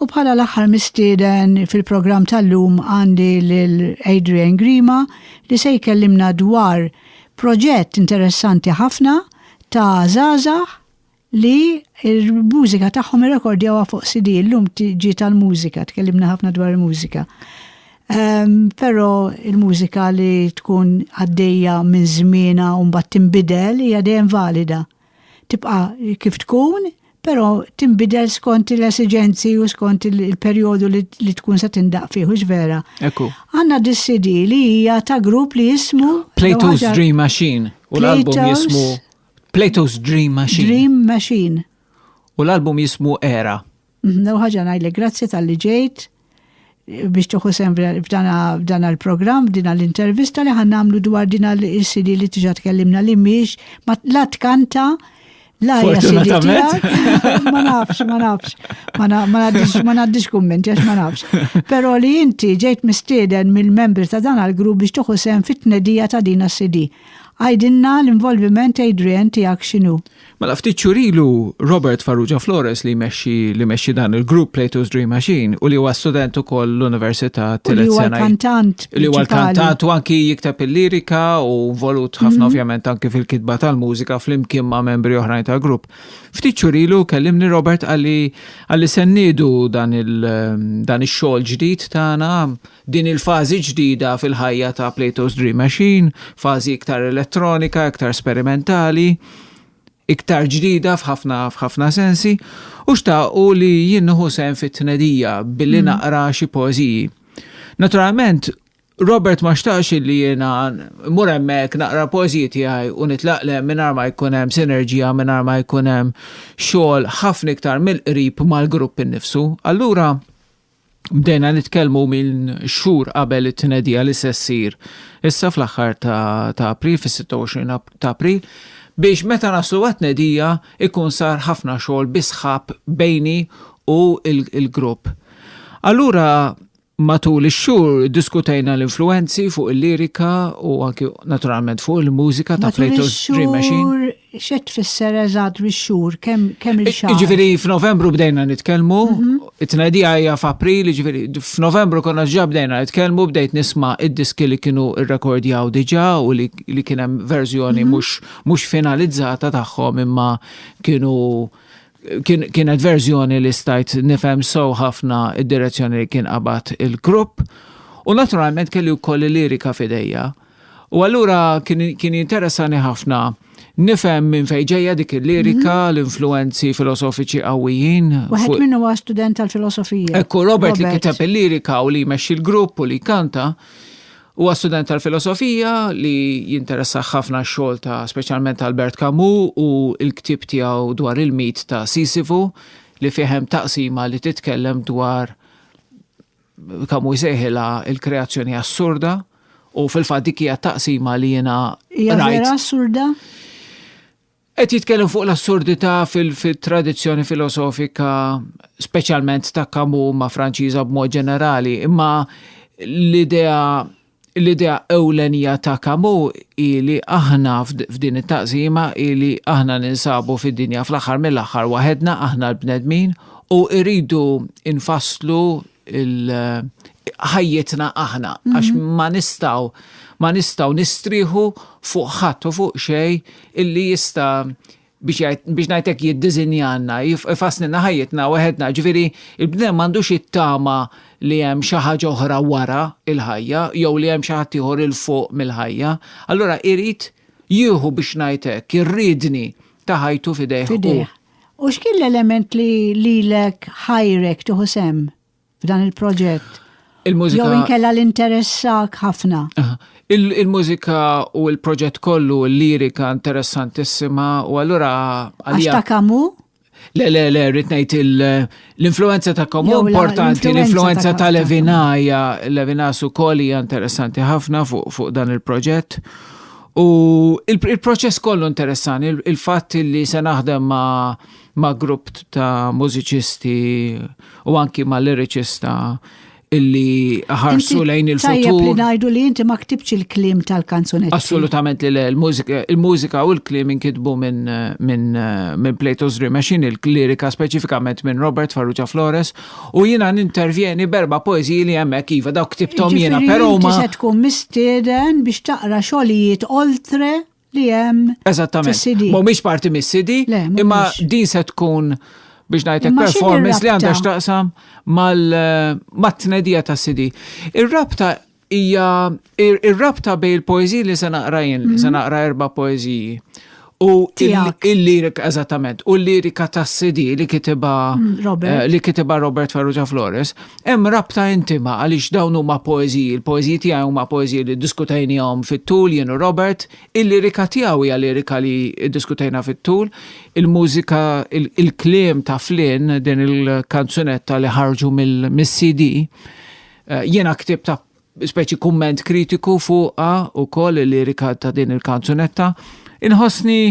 U bħala l-aħħar mistieden fil-programm tal-lum għandi lil Adrian Grima li se jkellimna dwar proġett interessanti ħafna ta' Zaza li l-mużika tagħhom irrekordjawha fuq CD, illum ġi tal-mużika, tkellimna ħafna dwar il-mużika. Ehm, però il-mużika li tkun għaddejja minn żmiena u mbagħad tinbidel hija dejjem valida. Tibqa' kif tkun, però tinbidel skont l-esigenzi u skont il-perjodu li tkun se tindaq fih, u vera. Ekku. Għandna dis-CD li hija ta' grupp li jismu Plato's Dream Machine u l-album jismu Plato's Dream Machine. Dream Machine. U l-album jismu Era. Mhm, Lew ħaġa ngħidlek grazzi tal-li ġejt biex tuħu sem f'dan għal-program, din għal-intervista li ħan namlu dwar din għal-CD li tiġa tkellimna li miex, ma la tkanta, la Fortunatament. Ma nafx, ma nafx, ma naddix kumment, jax ma nafx. Pero li inti ġejt mistieden mill-membri ta' dan għal-grupp biex tuħu sem fit-tnedija ta' din għal-CD. Għidilna l-involviment Adrian tiegħek x'inhu? Mela ftit xurilu Robert Farrugia Flores li jmexxi li jmexxi dan il-grupp Plato's Dream Machine u li huwa student ukoll l-Università Tillet Sena. Li huwa kantant. Li huwa kantant u anki jikteb il-lirika u volut ħafna mhm. ovvjament anki fil-kitba tal-mużika flimkien ma' membri oħrajn tal-grupp. Ftit xurilu kellimni Robert għalli għalli sennidu dan il-xogħol ġdid tagħna Din il-fażi ġdida fil-ħajja ta' Plato's Dream Machine, fażi iktar elettronika, iktar sperimentali, iktar ġdida f'ħafna f'ħafna sensi, u xtaqu li jien nieħu sehem fit-tnedija billi naqra xi poeżiji. Naturalment, Robert ma xtaqx li jiena mmur hemmhekk naqra poeżiji tiegħi u nitlaq le mingħajr ma jkun hemm sinerġija, mingħajr ma jkun hemm xogħol ħafna iktar mill-qrib mal-grupp innifsu. Allura, Bdejna nitkellmu minn xhur qabel it-tnedija li se ssir issa fl-aħħar ta' April, fis-26 ta' April, biex meta naslu għat-tnedija ikun sar ħafna xogħol bi sħab bejni u l-grupp. Allura matul ix-xhur diskutejna l-influwenzi fuq il-lirika u anki naturalment fuq il-mużika ta' Plato's Dream Machine. Xed tfisser eżatt bix-xhur, kemm il-xahar? Jiġifieri f'Novembru bdejna nitkellmu, mhm. it-tnedija hija f'April, jiġifieri f'Novembru konna ġa bdejna nitkellmu, bdejt nisma' id-diski li kienu rrekordjaw diġà u li kien hemm verżjoni mhm. mhux finalizzata tagħhom imma kienu kienet verżjoni li stajt nifhem so ħafna id-direzzjoni li kien qabad il-grupp. U naturalment kelli wkoll il-lirika fidejja. U allura kien interessani ħafna nifhem minn fejn ġejja dik il-lirika, mhm. l-influenzi filosofiċi qawwijin. Waħed minnu huwa student tal-filosofija. Ekku Robert li kiteb il-lirika u li jmexxi l-grupp u li kanta. Huwa student tal-filosofija li jinteressa ħafna x-xogħol ta' speċjalment Albert Camus u l-ktieb tiegħu dwar il-mit ta' Sisifu li fihem taqsima li titkellem dwar Kamu jsejħilha il-kreazzjoni assurda u fil-fatt dik hija taqsima li jiena rajt. assurda? Qed jitkellem fuq l-assurdità fil-tradizzjoni filosofika speċjalment ta' Kamu ma' Franċiża b'mod ġenerali, imma l-idea L-idea ewlenija ta' Camus hi li aħna f'din it-taqsima hi li aħna ninsabu fid-dinja fl-aħħar mill-aħħar waħedna, aħna l-bnedmin, u rridu nfasslu ħajjitna aħna għax ma nistgħu ma nistgħu nistrieħu fuq ħadd u fuq xejn illi jista' biex ngħid hekk jiddiżinjalna, jifasslilna ħajjitna weħedna, jiġifieri l-bniedem m'għandux jittama li hemm xi ħaġa oħra wara l-ħajja jew li hemm xi ħadd ieħor 'il fuq mill-ħajja. Allura irid jieħu biex ngħid hekk ir-riedni ta' ħajtu f'idejh hu. U x'kien l-element li lilek ħajrek tieħu sehem f'dan il-proġett? Il-mużika. Jew inkella l-interessak ħafna. Il-mużika u l-proġett kollu, l-lirika interessantissima u allura. Għax ta' kamu? Le, le, le, rritnejt l-influenza ta' kamu importanti, l-influenza ta' Levinaja, Levina su kolli interessanti ħafna fuq dan il-proġett. U il-proċess kollu interessanti, il-fatt li se naħdem ma' ma' grupp ta' mużiċisti u anki ma' liriċista illi ħarsu lejn il-futur. Tajjeb li ngħidu li inti ma ktibx il-klim tal-kanzunetti. Assolutament li le, il-mużika u l-klim inkitbu minn min, min Plato's Dream Machine, il-lirika speċifikament minn Robert Farrugia Flores, u jiena nintervjeni berba poeziji li hemmhekk iva dawk ktibtom jiena, però ma. se tkun mistieden biex taqra xogħlijiet oltre li hemm. Eżattament. Ma mhumiex parti mis-CD, imma din se tkun biex ngħidlek performance li għandha x'taqsam mal-tnedija eh, ta' CD. Ir-rabta hija ir-rabta bej il-poeżiji li se naqra jien, se mhm. naqra erba' poeżiji. U il-lirik, eżattament, u l-lirika ta' CD li kitiba mm, eh, li kitiba Robert Ferrugia Flores, Hemm rabta intima għaliex dawn huma poeżiji, il-poeżiji tiegħi huma poeżiji li ddiskutejniehom fit-tul jien u Robert, il-lirika tiegħu hija lirika li ddiskutejna fit-tul, il-mużika, il-kliem ta' Flynn, din il-kanzunetta li ħarġu mis-CD, eh, jiena ktibt speċi kumment kritiku fuqha wkoll il-lirika ta' din il-kanzunetta, inħossni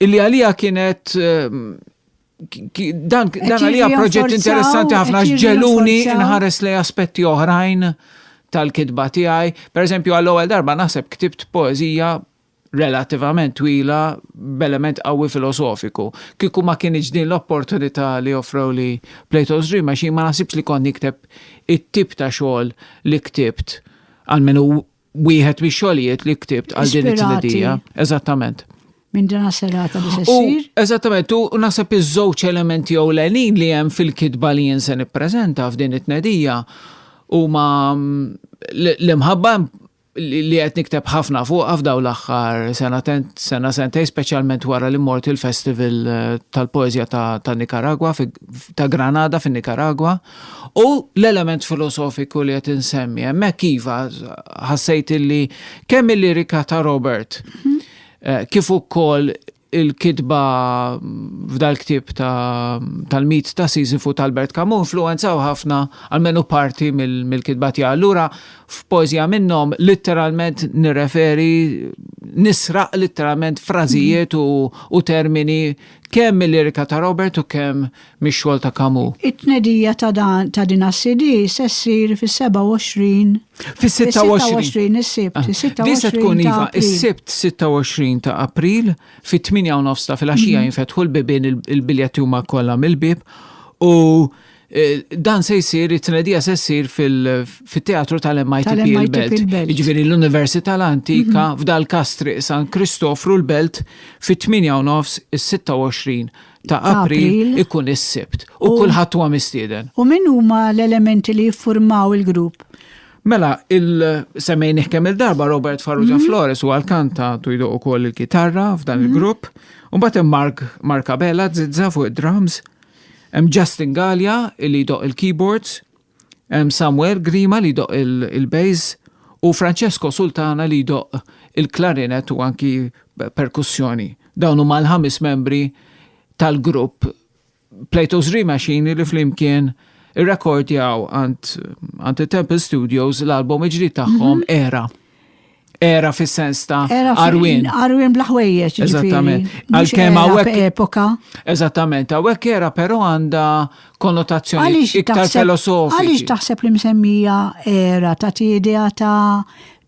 illi għalija kienet eh, Dan għalija proġett interessanti ħafna ġeluni nħares li aspetti oħrajn tal-kitba tiegħi. Per eżempju, għall-ewwel darba naħseb ktibt poezija relativament twila b'element qawwi filosofiku. Kieku ma kienx din l-opportunità li offrew li Plato's Dream għax ma naħsibx li kont nikteb it-tip ta' xogħol li ktibt għalmenu Wieħed mi xogħlijiet li ktibt għal din it-tnedija. Eżattament. Minn dina serata li xessir. Eżattament, u nasab iż-żewġ elementi jew l-għenin li hemm fil-kitba li jinsen ippreżenta f'din it-tnedija u ma mm, l-imħabba li qed nikteb ħafna fuq f'daw l-aħħar sena sena sentej speċjalment wara li mort il-Festival eh, tal-Poeżja ta' Nikaragwa ta' Granada fin-Nikaragwa. U l-element filosofiku li qed insemmi hemmhekk iva ħassejt illi kemm il-lirika ta' Robert mhm. eh, kif ukoll il-kitba f'dal-ktib tal-mit ta' Sisyphu tal-Bert Kamu influenzaw ħafna għalmenu parti mill-kitba tiegħu. Allura f'poezija minnhom litteralment nirreferi nisraq litteralment frażijiet u termini kemm mill-lirika ta' Robert u kemm mix-xogħol ta' Camus. It-tnedija ta' dan ta' din għas-CD se ssir fis-27 Fis-26 is-Sibt, is-26 Di se tkun iva is-Sibt 26 ta' April fit-8 u nofs ta' filgħaxija mhm. jinfetħu l-bibien il-biljetti huma kollha mill-bib u Eh, dan se jsir, it-tnedija se jsir fil-teatru tal-MIT il-Belt. Ġviri l-Università l-Antika mhm. f'dal kastri San Kristofru l-Belt fit-8 nofs is-26 ta' April ikun is-Sibt u kulħadd huwa mistieden. U min huma l-elementi li jiffurmaw il-grupp? Mela, il-semmejn kemm il-darba Robert Farrugia mhm. Flores u għal-kanta tu jdoq ukoll il-kitarra f'dan mhm. il-grupp. U mbagħad hemm Mark Markabella zizza fuq id-drums. Hemm Justin Gallia li jdoq il-keyboards. Hemm Samuel Grima li jdoqq il-bass u Francesco Sultana li jdoqq il-klarinet u anki perkussjoni. Dawn huma l-ħames membri tal-grupp Plato's Dream Machine li flimkien irrekordjaw għand it-Temple Studios l-album ġdid tagħhom mhm. Era. era fis-sens ta' Arwin. Arwin bla ħwejjeġ. Eżattament. Għal-kem għawek. Epoka. Eżattament, għawek era pero għanda konnotazzjoni iktar filosofika. Għalix taħseb li msemmija era ta' idea ta'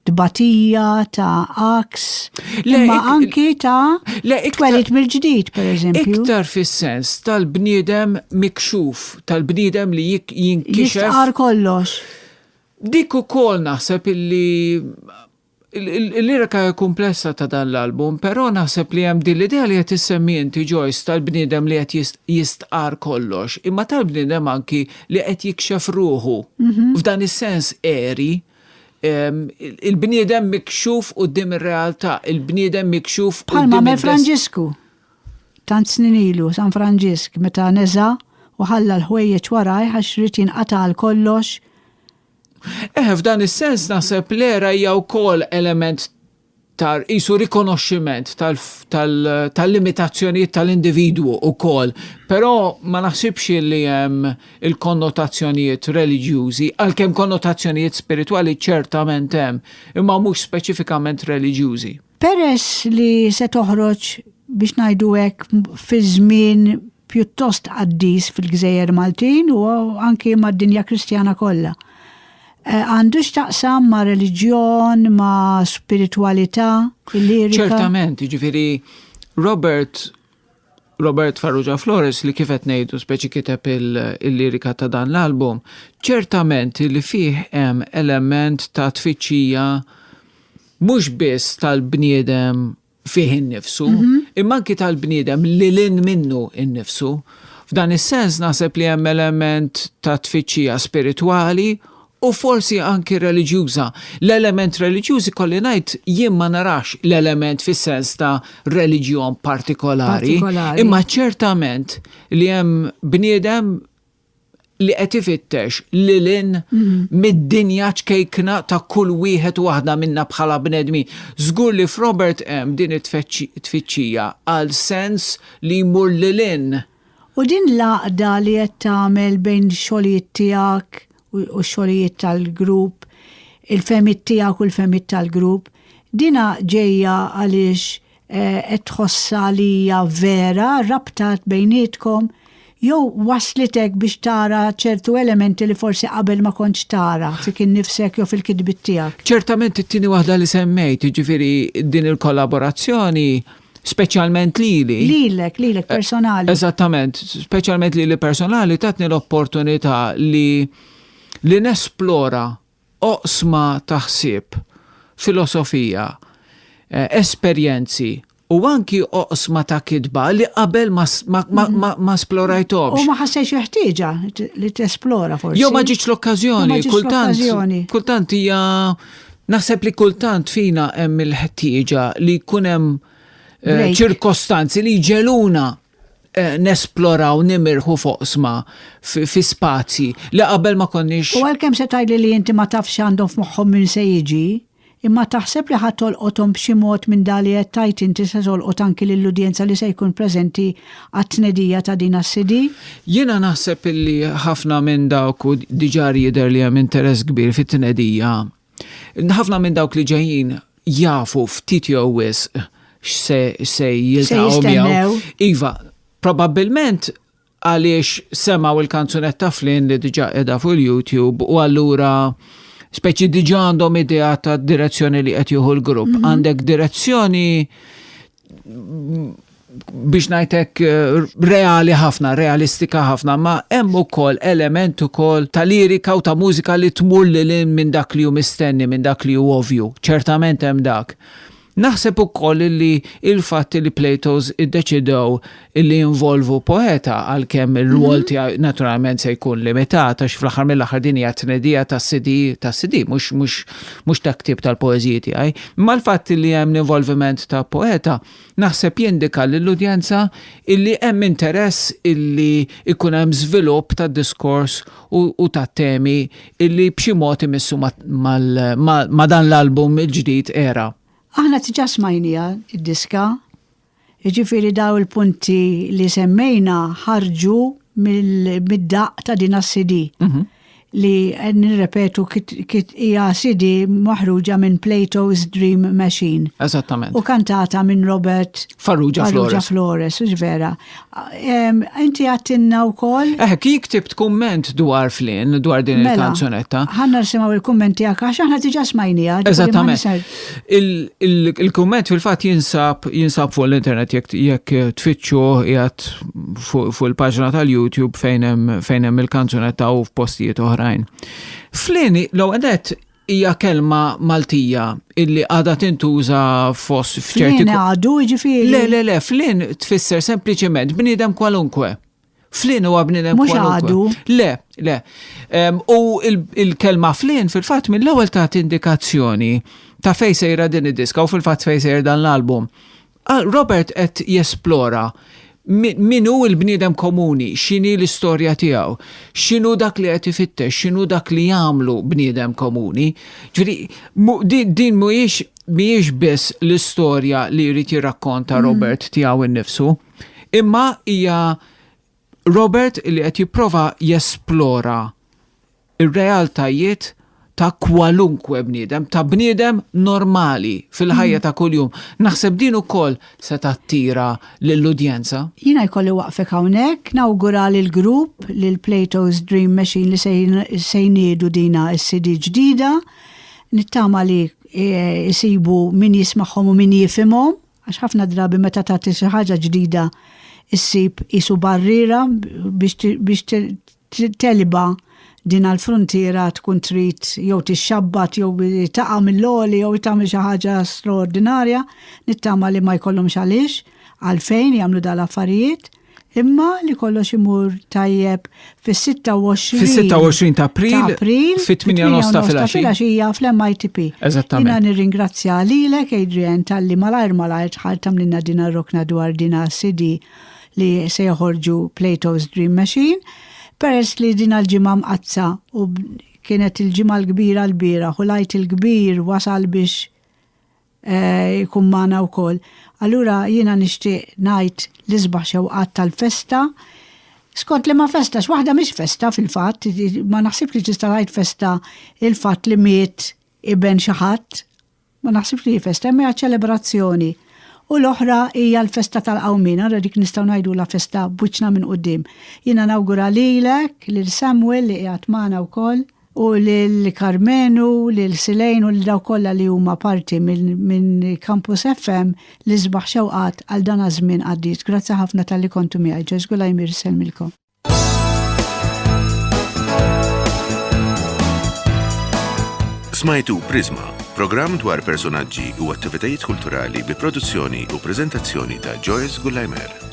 tbatija, ta' aks, imma anki ta' twelit mill-ġdid, per eżempju. Iktar fis-sens tal-bniedem mikxuf, tal-bniedem li jinkixef. Jistqar kollox. Dik ukoll naħseb illi l-lirika hija kumplessa ta' dan l-album, però naħseb li hemm din l-idea li qed issemmi inti Joyce tal-bniedem li qed jistqarr kollox, imma tal-bniedem anki li qed jikxef ruħu. F'dan is-sens għeri, il-bniedem mikxuf quddiem ir-realtà, il-bniedem mikxuf quddiem. Bħalma Mefranġisku. Tant snin ilu San Franġisk meta neża' u ħalla l-ħwejjeġ warajh għax ried jinqata' għal kollox. Eħe, f'dan is-sens naħseb l-era hija wkoll element ta' qisu rikonoxximent tal-limitazzjonijiet tal-individwu wkoll, però ma naħsibx li hemm il-konnotazzjonijiet reliġjużi, għalkemm konnotazzjonijiet spiritwali ċertament hemm, imma mhux speċifikament reliġjużi. Peress li se toħroġ biex ngħidu hekk fi żmien pjuttost qaddis fil-gżejjer Maltin u anki mad-dinja Kristjana kollha. Eh, għandu x'taqsam ma' reliġjon, ma' spiritualità, lirika. Ċertament, ġifieri Robert Robert Farrugia Flores li kif qed ngħidu speċi kiteb il-lirika ta' dan l-album, ċertament li fih hemm element ta' tfittxija mhux biss tal-bniedem fih innifsu, mhm. imma anki tal-bniedem li lin minnu innifsu. F'dan is-sens naħseb li hemm element ta' tfittxija spiritwali u forsi anki reliġjuża. L-element reliġjuż ikolli ngħid jien ma narax l-element fis-sens ta' reliġjon partikolari, imma ċertament li hemm bniedem li qed ifittex lil in mhm. mid-dinja ċkejkna ta' kull wieħed waħda minna bħala bnedmi. Żgur li f'Robert hemm din it-tfittxija għal sens li jmur lil in U din l-għaqda li qed tagħmel bejn xogħlijiet tiegħek u x-xogħlijiet tal-grupp, il-fehmiet tiegħek u l-fehmiet tal-grupp, dinha ġejja għaliex qed tħossha li hija vera r-rabta bejnietkom jew wasslitek biex tara ċertu elementi li forsi qabel ma kontx tara fik innifsek jew fil-kitbiet tiegħek? Ċertament it-tieni waħda li semmejt, jiġifieri din il-kollaborazzjoni, speċjalment lili. Lilek, lilek personali. Eżattament, speċjalment lili personali tatni l-opportunità li li nesplora oqsma taħsib, filosofija, eh, esperjenzi u anki oqsma ta' kitba li qabel ma mm-hmm. esplorajtomx. U ma ħassejx jeħtieġa li tesplora forsi. Jo ma ġiċ l-okkazjoni, kultant. Kultant hija Naħseb li kultant fina hemm il-ħtieġa li jkun hemm eh, ċirkostanzi li jġeluna eh, nesploraw nimirħu foqsma fi spazji li qabel ma konniex. U għalkemm se tgħidli li inti ma tafx għandhom f'moħħhom minn se jiġi, imma taħseb li ħadd tolqothom b'xi mod minn dali qed tajt inti se tolqot anki lill-udjenza li se jkun preżenti għat-tnedija ta' din għas-CD. Jiena naħseb illi ħafna minn dawk u diġà jidher li hemm interess kbir fit-tnedija. Ħafna minn dawk li ġejjin jafu ftit jew wisq x'se jiltaqgħu miegħu. Iva, probabbilment għaliex semaw il-kanzunetta flin li diġa edha fuq il-YouTube u allura speċi diġa għandhom idea ta' direzzjoni li qed jieħu l-grupp. Mhm. Għandek direzzjoni biex najtek eh, reali ħafna, realistika ħafna, ma hemm ukoll element ukoll ta' lirika u ta' mużika li tmur li lin minn dak li hu mistenni, minn dak li hu ovju. Ċertament hemm dak. Naħseb ukoll li il-fatt li Plato's iddeċidew illi jinvolvu poeta għalkemm ir-rwol mhm. tiegħu naturalment se jkun limitat għax fl-aħħar mill-aħħar din hija tnedija tas-CD tas-CD mhux mhux mhux ta' ktieb tal-poeżiji tiegħi. Imma l-fatt li hemm l-involviment ta' poeta naħseb jindika lill-udjenza illi hemm interess illi ikun hemm żvilupp tad-diskors u tat-temi illi b'xi mod imissu ma' dan l-album il-ġdid era. Aħna tiġa smajnija id-diska Jiġifieri daw il-punti li semmejna ħarġu mid-daq ta' din CD mhm. li nirrepetu kit hija CD maħruġa minn Plato's Dream Machine. Eżattament. U kantata minn Robert Farrugia Flores. Flores, vera. Inti għattinna u koll? Eh, ki ktibt kumment dwar flin, dwar din mela, il-kanzunetta. ħanna nisimaw il-kumment tijak, għax ħanna tiġa smajnija. Eżattament. Il-kumment fil-fat jinsab, jinsab fuq l-internet jek tfittxu jgħat fuq il-paġna tal-YouTube fejnem il-kanzunetta u f'postijiet oħrajn. Flin, l-għadet, hija kelma Maltija illi għada tintuża fost f'ċerti. Flin għadu ġifiri. Le, le, le, flin tfisser sempliciment bnidem kwalunkwe. Flin huwa bnidem kwalunkwe. Le, le. U il-kelma flin fil-fatt mill-ewwel ta' indikazzjoni ta' fejn sejra din id-diska u fil-fatt fejn sejra dan l-album. Ah, Robert qed jesplora min hu l-bniedem komuni, x'inhi l-istorja tiegħu, x'inhu dak li qed ifittex, x'inhu dak li jagħmlu bniedem komuni. Ġifieri, din, din mhuwiex mhijiex biss l-istorja li jrid jirrakkonta mm. Robert tiegħu nnifsu, imma hija Robert li qed jipprova jesplora r-realtajiet ta' kwalunkwe bniedem, ta' bniedem normali fil-ħajja mm. ta' kuljum. Naħseb din ukoll se tattira lill-udjenza. Jiena jkolli waqfek hawnhekk, nawgura lil grupp lil Plato's Dream Machine li se jniedu dina s-CD ġdida. Nittama li jisibu e, min jismagħhom u min jifimhom Għax ħafna drabi meta tagħti xi ħaġa ġdida issib isu barriera biex teliba din għal frontiera tkun trid jew tixxabbat jew taqa' mill-għoli jew tagħmel xi ħaġa straordinarja nittama li ma jkollhomx għaliex għalfejn jagħmlu dal-affarijiet. Imma li kollox imur tajjeb fis-26 Fis-26 ta' April, ta' April fit-8 nofs ta' filgħaxija fl-MITP. Eżattament. Jiena nirringrazzja lilek Adrian talli malajr malajr tħall tamlinna dina rokna dwar dina CD li se joħorġu Plato's Dream Machine peress li dina l-ġimgħa mqattsa u kienet il-ġimgħa l-kbira l-bieraħ u lajt il-kbir wasal biex eh, jkun magħna wkoll. Allura jiena nixtieq ngħid li sbaħ xewqat tal-festa. Skont li ma festa, x'waħda mhix festa fil-fatt, ma naħsibx li tista' tgħid festa il-fatt li miet iben xi ħadd. Ma naħsibx li festa, imma ċelebrazzjoni. U l-oħra hija l-festa tal-qawmin, għara dik nistgħu ngħidu la festa buċna minn qudiem. Jiena nawgura lilek lil Samuel li qiegħed magħna wkoll u lil Karmenu, lil Silejn u lil dawk kollha li huma parti minn Campus FM li sbaħ xewqat għal dan żmien qaddis. Grazzi ħafna tal-li kontu miegħi. Ġeż Gulajmir selmilkom. Smajtu Prisma, programm dwar personaġġi u attivitajiet kulturali bi produzzjoni u prezentazzjoni ta' Joyce Gullajmer.